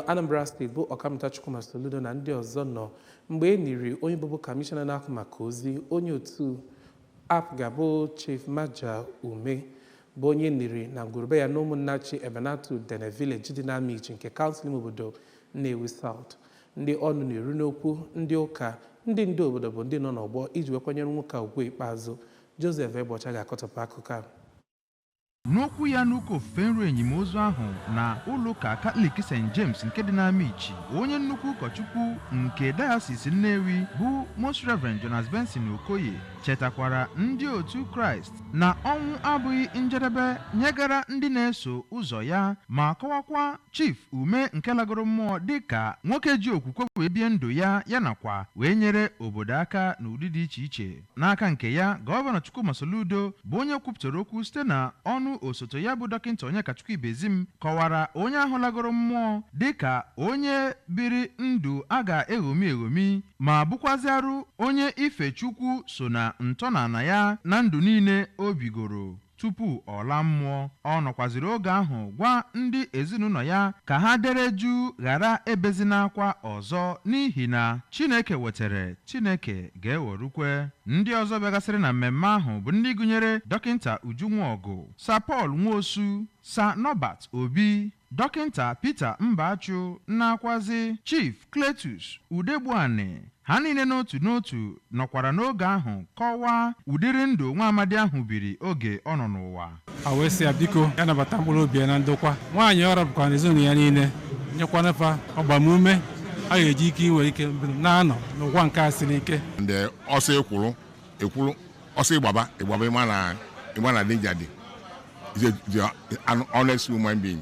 Anambra steeti bụ ọkammụta Chukwuma Soludo na ndị ọzọ nọ mgbe e niri onye bụbu kamishọna na-ahụ maka ozi onye otu APGA bụ Chief Maja Ume bụ onye niri na ngwuru be ya n'Ụmụnnachi Ebenato Udene Village dị n'Amichi nke kansụl ime obodo Nnewi South ndị ọnụ na-eru n'okwu ndị ụka ndị ndu obodo bụ ndị nọ n'ọgbọ iji wee kwanyere nwoke a ugwu ikpeazụ Joseph Egbeocha ga-akọtọpụ akụkọ a N'okwu ya n'ụka ofufe nru enim ozu ahụ na ụlọụka Katọlik St. James nke dị n'Amichi, onye nnukwu ụkọchukwu nke Dayọsis Nnewi bụ Most Rev. Jonas Benson Okoye chetakwara ndị otu Kraịst na ọnwụ abụghị njedebe nyegara ndị na-eso ụzọ ya ma kọwakwa Chief Ume nke lagoro mmụọ dịka nwoke ji okwukwe wee bie ndụ ya ya nakwa wee nyere obodo aka n'ụdị dị iche iche. N'aka nke ya, Gọvanọ Chukwuma Soludo bụ onye kwupụtara okwu site na ọnụ osote ya bụ Dọkịnta Onyekachukwu Ibezim kọwara onye ahụ lagoro mmụọ dịka onye biri ndụ a ga-eṅomi eṅomi ma bụkwazịarụ onye ife Chukwu so na ntọnala ya na ndụ niile o bigoro. tupu ọ laa mmụọ. Ọ nọkwaziri oge ahụ gwa ndị ezinụlọ ya ka ha dere juu ghara ebezina akwa ọzọ n'ihi na Chineke wetere, Chineke ga-ewerukwe. Ndị ọzọ bịagasịrị na mmemme ahụ bụ ndị gụnyere Dọkịnta Uju Nwaọgụ, Sir Paul Nwosu, Sir Norbert Obi, Dọkịnta Peter Mbachu nakwazị Chief Cletus Udegbuani, ha niile n'otu n'otu nọkwara n'oge ahụ kọwaa ụdịrị ndụ nwa amadị ahụ biri oge ọ nọ n'ụwa. Ha wee sị ya biko ya nabata mkpụrụ obi ya na ndokwa. Nwaanyị ọ rapụkwara na ezinụlọ ya niile nyekwanụ fa agbamume a ga-eji ike inwe ike na-anọ n'ụwa nke a siri ike. Ndị ọsọ ekwuru ekwuru ọsọ ịgbaba ịgbaba ị ma na danger dị is an honest human being